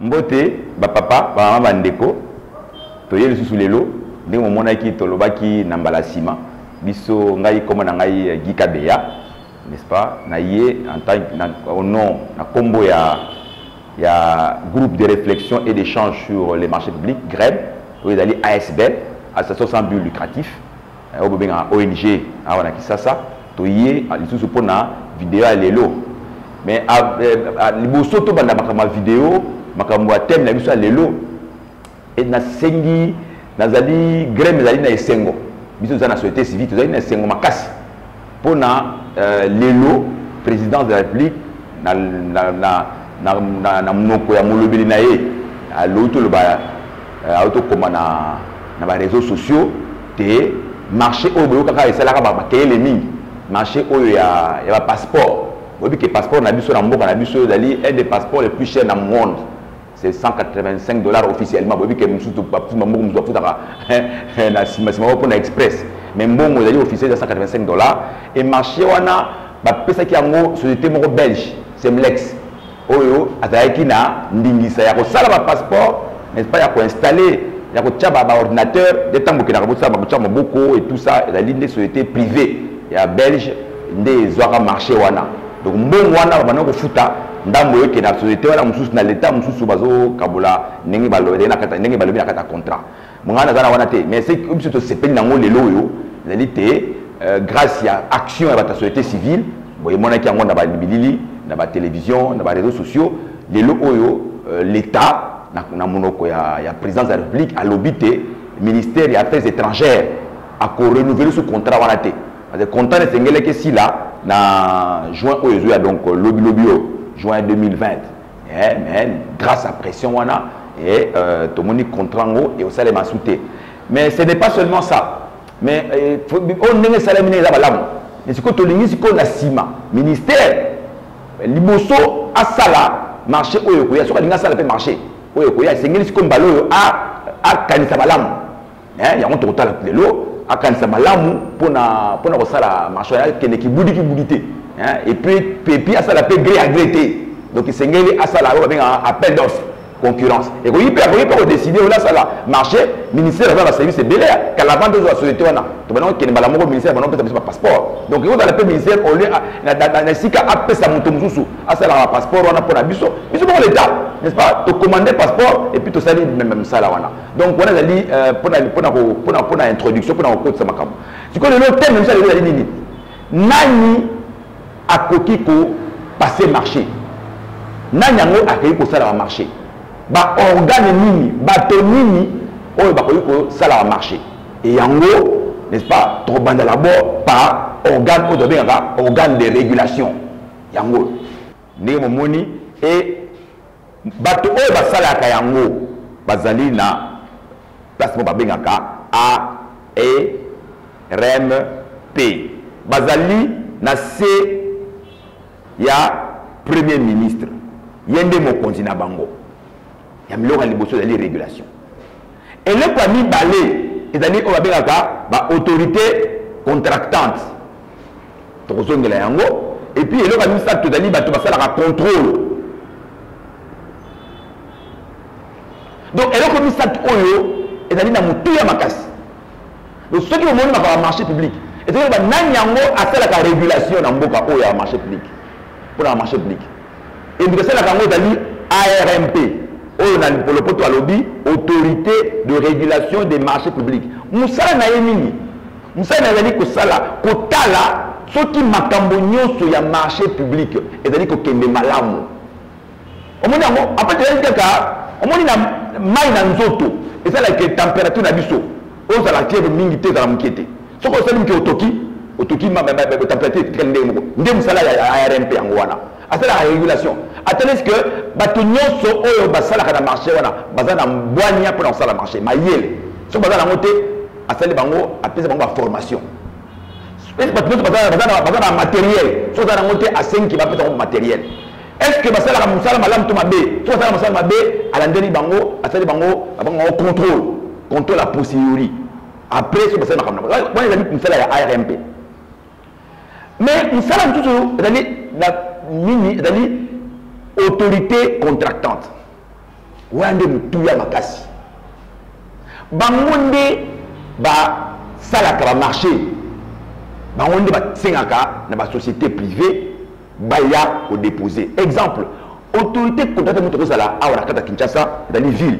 mbote bapapa bamama bandeko toye lisusu lelo ndenge momonaki tolobaki na mbala nsima biso ngai nkombo na ngai eh, gika beya n'est-ce pas na ye en tant au nom na nkombo ya ya groupe de reflexion et d'echange sur les marchés publics greb oyo ezali asbl association sans but lucratif eh, oyo bobengaka ong awa na kisasa toye ah, lisusu mpo na video ya lelo mais ah, eh, ah, liboso tobanda makambo ya video makambo ya teme na biso ya lelo Et na sengi nazali greme ezali na esengo biso toza na société civile tozali na esengo makasi mpo na euh, lelo présidence de la république na, na, na, na, na, na monoko ya molobeli na ye alobi toloba euh, ayo tokoma na, na bareseau sociaux te marché oyo boyokaka esalaka bakeyele mingi marché oyo ya, ya bapasseport boyebi ke passeport na biso na mboka na biso ezali un des passeports le plus cher na monde c'est 185 dollars officiellement boyebi ke mosusu bapesi bamboko mosusu bafutaka na simasima oyo mpona express mais mbongo ezali officiel eza 185 dollars e marché wana bapesaki yango société moko belge semlex oyo azalaki na ndingisa ya kosala bapasseport n'est-ce pas ya koinstalle ya kotya baordinateur nde ntango okendaka bosala bakotya maboko et tout ça ezali nde société privée ya belge nde ezwaka marché wana donc mbongo wana babanda kofuta ndambo eke na société wana mosusu na leta mosusu bazokabola ndenge balobi na kati ya contrat ngai naza na wana te mais biso tosepeli nango lelo oyo ezali te euh, grâce ya action ya bato ya société civile boyemonaki yango na babilili na batélévision na baréseau sociaux lelo oyo euh, l'état na monoko ya, ya présidence ya république alobi te ministère ya affaires étrangères akorenouvele su contrat wana te Parce que content esengelaki esila na juin oyo ezoya donc lobi lobi oyo juin 2020 eh, mais grâce à pression wana eh, euh, tomoni contrat ngo ekosalema su te mais ce n'est pas seulement ça mais eh, oyo ndenge esalemi ndenge eza malamu mais sikoyo tolingi sikoyo na nsima ministère eh, liboso asala marché oyo ekoya soki alingi asala mpe marché oyo ekoya esengeli sikoyo mbala oyo akanisa malamu eh, yango tokotala lelo akanisa malamu mpona mpona kosala marché akende kibudi kibudi te eh, epuis pepi asala mpe gré ya gré te donc esengeli asala oyo babengaka appel d'offre concurrence ekoki mpe akoki mpe kodeside oyo asala marché ministère aza na service ebele kala vante ozwa société wana tobanda kokende mbala moko ministère bana kopesa biso bapasseport donc ekozala mpe ministère au lieu na esika apesa moto mosusu asalaka bapasseport wana mpo na biso biso moko leta n'est ce pas tocommande passeport epuis tosali meme mosala wana donc wana ezali mpona euh, mpona mpona mpona introduction mpona kokotisa makambo sikoyo lelo teme misa lelo ezali nini nani akoki kopase marché nani yango akoki kosala bamarché baorgane nini bato nini oyo bakoki kosala bamarché e yango n'est-ce pas tokobanda labord par organe oyo tobengaka organe de régulation yango ndenge momoni e Bato oyo basalaka yango bazali na place moko babengaka ARMP. Bazali na se ya Premier ministre. Ye nde mokonzi na bango. Ya biloko ya liboso ezali regulation. Eloko ya mibale ezali oyo babengaka ba autorités contractantes. tokozongela yango epuis eloko ya misato tozali bato basalaka contrôle donc eloko misato oyo ezali na motuya makasi donc soki omoni makambo ya marché public ezali loba nani yango asalaka régulation na mboka oyo ya marché public mpo na marché public ebika asalaka yango ezali armp oyo na lipolopoto alobi autorité de régulation des marchés publics mosala na ye nini Musani azali kosala kotala soki makambo nyonso ya marché public ezali kokende malamu. Omoni yango apate ezali kaka omoni na mai na nzoto esalaka temperature na biso ozala tieve mingi te ezala moke te soki osali moke otoki otoki temperature etikali ndenge moko nde mosala ya rmp yango wana asalaka régulation atalisi ke bato nyonso oyo basalaka na marché wana baza na bwania mpona kosala marché mayele soki baza nango te asali bango apesa bango baformation bato nyonso baza na materiel soki baza nango te asengi bapesa bango materiel est ce que basalaka mosala malamu to mabe soki basala mosala mabe alandeli bango asali bango abango bango contrôle contrôle a posteriori après soki basali makambo wana ezali mosala ya armp mais mosala mosusu ezali na nini ezali autorité contractante wana nde motuya makasi bango nde basalaka bamarché bango nde basengaka na basociété privée baya kodépose exemple autorité contractante moto akozala awa na kata kinshasa ezali ville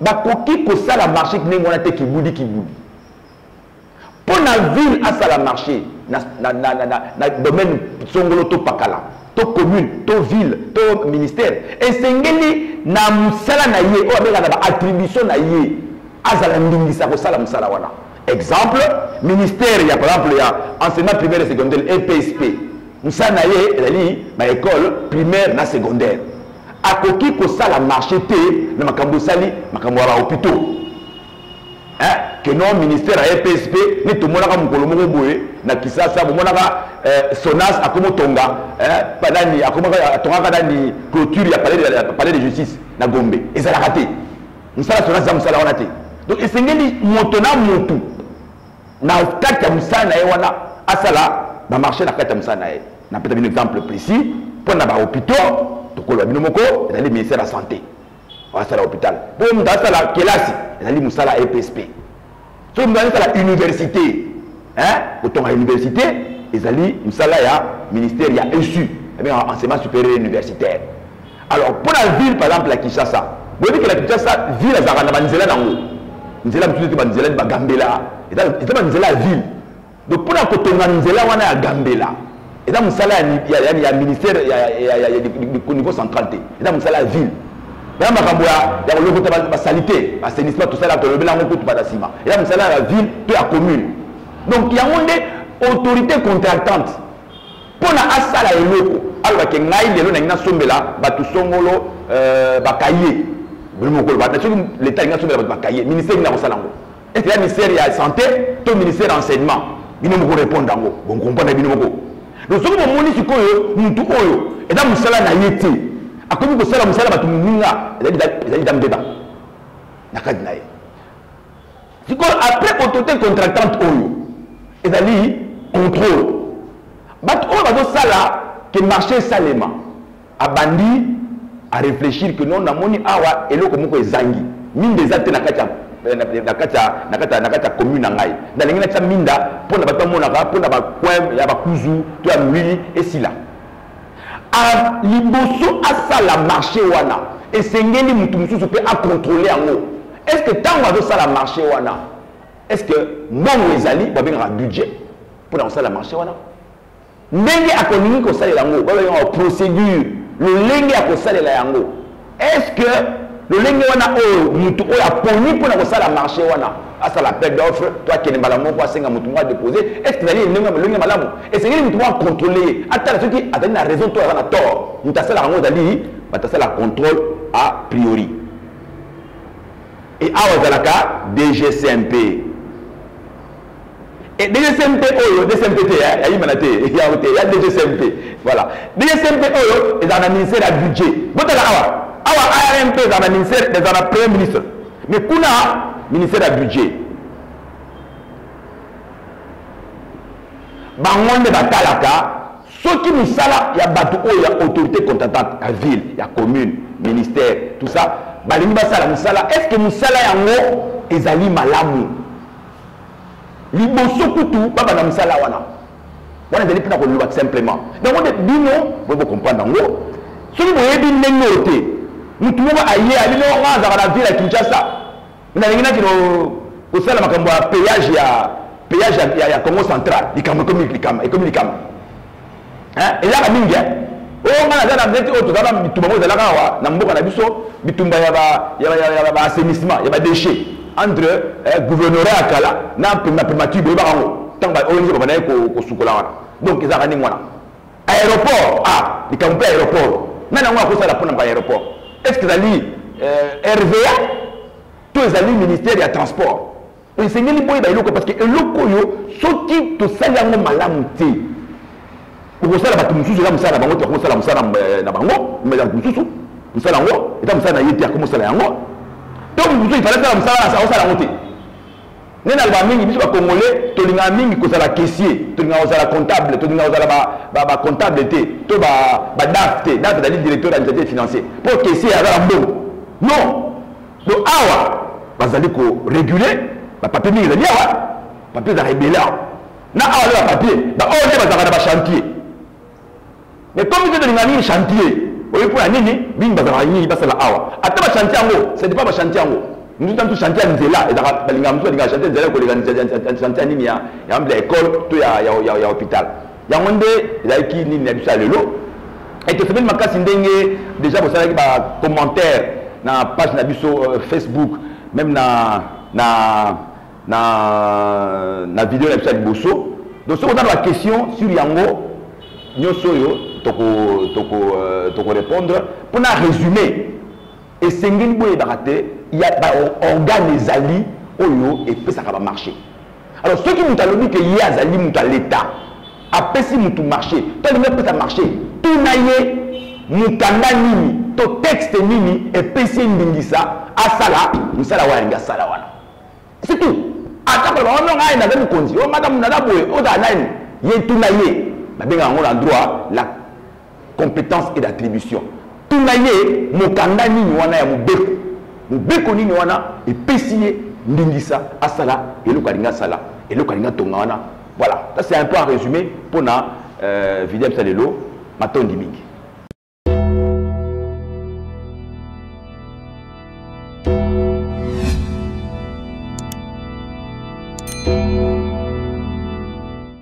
bakoki kosala marché ndenge wana te kibudi kibudi mpo na ville asala marché na, na, na, na, na, na domaine songolo to pakala to commune to ville to ministère esengeli na mosala na ye oyo abenga na baattribution na ye azala ndingisa kosala mosala wana exemple ministère ya par exemple ya enseignement primaire et secondaire epsp mosala na ye ezali ba ecole primaire na secondaire akoki kosala marché te na makambo esali makambo ya bahopitaux eh, keno ministère ya epsp nde tomonaka mokolo moko boye na kisasa bomonaka eh, sonas akomotonga eh, nani atongaka nani clôture ya palais de justice na gombe ezalaka te mosala sonas eza mosala wana te donc esengeli moto na motu na kati ya mosala na ye wana asala bamarché na kati ya mosala na ye napesa bino exemple précis mpo na bahôpitaux tokoloba bino moko ezali ministère ya santé asala hôpital mpo moto asala kelasi ezali mosala ya epsp soki moto azali sala université kotonga université ezali mosala ya ministère ya esu abengaka enseignement supérieur universitaire alors mpo na ville par exemple ya kinshasa boyebi ke na kinshasa ville azalaka na banzela nango nzela mosusu ete banzela ni bagambela eza banzela ya ville donc mpo na kotonga nzela wana ya gambela eza mosala ya ministère au niveau central te eza mosala ya ville eza makambo ya kolokota basalite basenisma tosala tolobela yango kutu bana nsima eza mosala ya ville to ya commune donc yango nde autorité contractante Mpo na asala eloko, aloba ke ngai lelo nalingi nasombela bato songolo euh, ba cahier bolimo koloba na soki leta alingi asombela bato ba cahier ministère nini akosala yango ete ya ministère ya santé to ministère ya enseignement bino moko répondre yango bonkomprendre bino moko donc soki bomoni sikoyo motu oyo eza mosala na ye te akomi kosala mosala bato moninga ezali dame deba na kati na ye sikoyo après autorité contractante oyo ezali contrôle bato oyo bazosala ke marché esalema abandi areflechir ke non namoni awa eloko moko ezangi minda eza te na kati ya eh, na kati ya na kati ya na kati ya commune na ngai nalingi natya minda mpo na bato bamonaka mpo na bacoin ya bakuzu to ya molili esila liboso asala marché wana esengeli moto mosusu mpe akontrole yango est ce que ntango azosala marché wana est ce que mbongo ezali babengaka budget mpo na kosala marché wana ndenge akolingi kosalela yango babengaka procédure lolenge ya kosalela yango est ce que lolenge wana oyo mutu oyo aponi mpo na kosala marché wana asala appel d'offre to akende mbala moko asenga motu moko adepose est ce que ezali elenge lolenge malamu esengeli motu moko acontrole ye atala soki azali na raison to aza na tort motu asalaka yango ezali bato asala contrôle a priori e awa ezalaka dgcmp Et DSMP oyo, DSMP te, hein, aïe manate, il y a il y a DSMP. Voilà. DSMP oyo, ils ont un ministère à budget. Botala awa. Awa ARMP, ils ont un ministère, ils ont un premier ministre. Mais kuna, ministère à budget. bango nde batalaka soki misala ya bato oyo ya autorité contratante ya ville ya commune ministère tout ça balingi basala mosala est ce que mosala yango ezali malamu liboso kutu babanda mosala wana wana ezali mpona koloba simplement yango nde bino boye bokomprendre yango soki boyebi ndenge oyo te motu moko aye abi noko nga azalaka na ville ya kinshasa nalingi naki kosala makambo ya payage ya payage ya congo central likambo ekomi likambo hein elaka mingi hein oyo oh, nga naza na neti oyo oh, toza na bitumba moko ezalaka awa na mboka na biso bitumba ya ba assainissement ya badéchet entre eh, gouverneura ya kala na primature boyebaka yango ntango baong baba naye kosukola wana donc ezalaka ndenge wana aéroport ah likambo mpe aéroport nani yango akosala mpo na baaéroport est ce que ezali eh, rva to ezali ministère ya transport esengeli boyeba eloko parce que eloko oyo soki tosali yango malamu te okosala bato mosusu eza mosala na bango te akosala mosala eh, na bango bato mosusu mosala yango eza mosala na ye te akomosala yango to moto mosusu ifale asala mosala na akosala yango te nde naloba mingi biso bacongolais tolingaka mingi kozala caissier tolingaka kozala comptable tolingaka kozala bacomptable te to badaf te daf ezali directeur ya initiative financier mpo caissier aza na mbongo non donc awa bazali ko réguler bapapie mingi ezali awa papie ezalaka ebele awa na awa nde bapapie baoyo nde bazalaka na bachantier mais comme te tolinga nini chantier oyebi mpo ya nini mingi bazalaka nini basala awa ata bachantier yango c'est pas bachantier yango mosusu tantu chantier ya nzela ezalaka balingaka mosusu balingaka chantier ya nzela koleka chantier ya nini ya mbla ya école to ya hôpital yango nde ezalaki nini na biso ya lelo etosepeli makasi ndenge deja bosalaki bacommentaire na page na biso euh, facebook meme na na na na video na biso ya liboso donc soki oza na baquestion sur yango nyonso oyo tokorépondre toko, euh, toko, toko mpo na résume esengeli boyebaka te ya baorgane ezali oyo epesaka bamarché alors soki moto alobi ke ye azali moto ya leta apesi moto marché to alingi apesa marché tuna ye mokanda nini to texte nini epesi ye ndingisa asala mosala wana alingi asala wana c'est tout ata koloba wana ngai aye naza mokonzi o oh, mata moto naza boye ozala nani ye tuna ye babengaka yango na droit la compétence et d'attribution tuna ye mokanda nini wana ya mobeko mobeko nini wana epesi ye ndingisa asala eloko alingi asala eloko alingi atonga wana voilà ça c'est un peu en résumé mpo na euh, video bisa lelo matondi mingi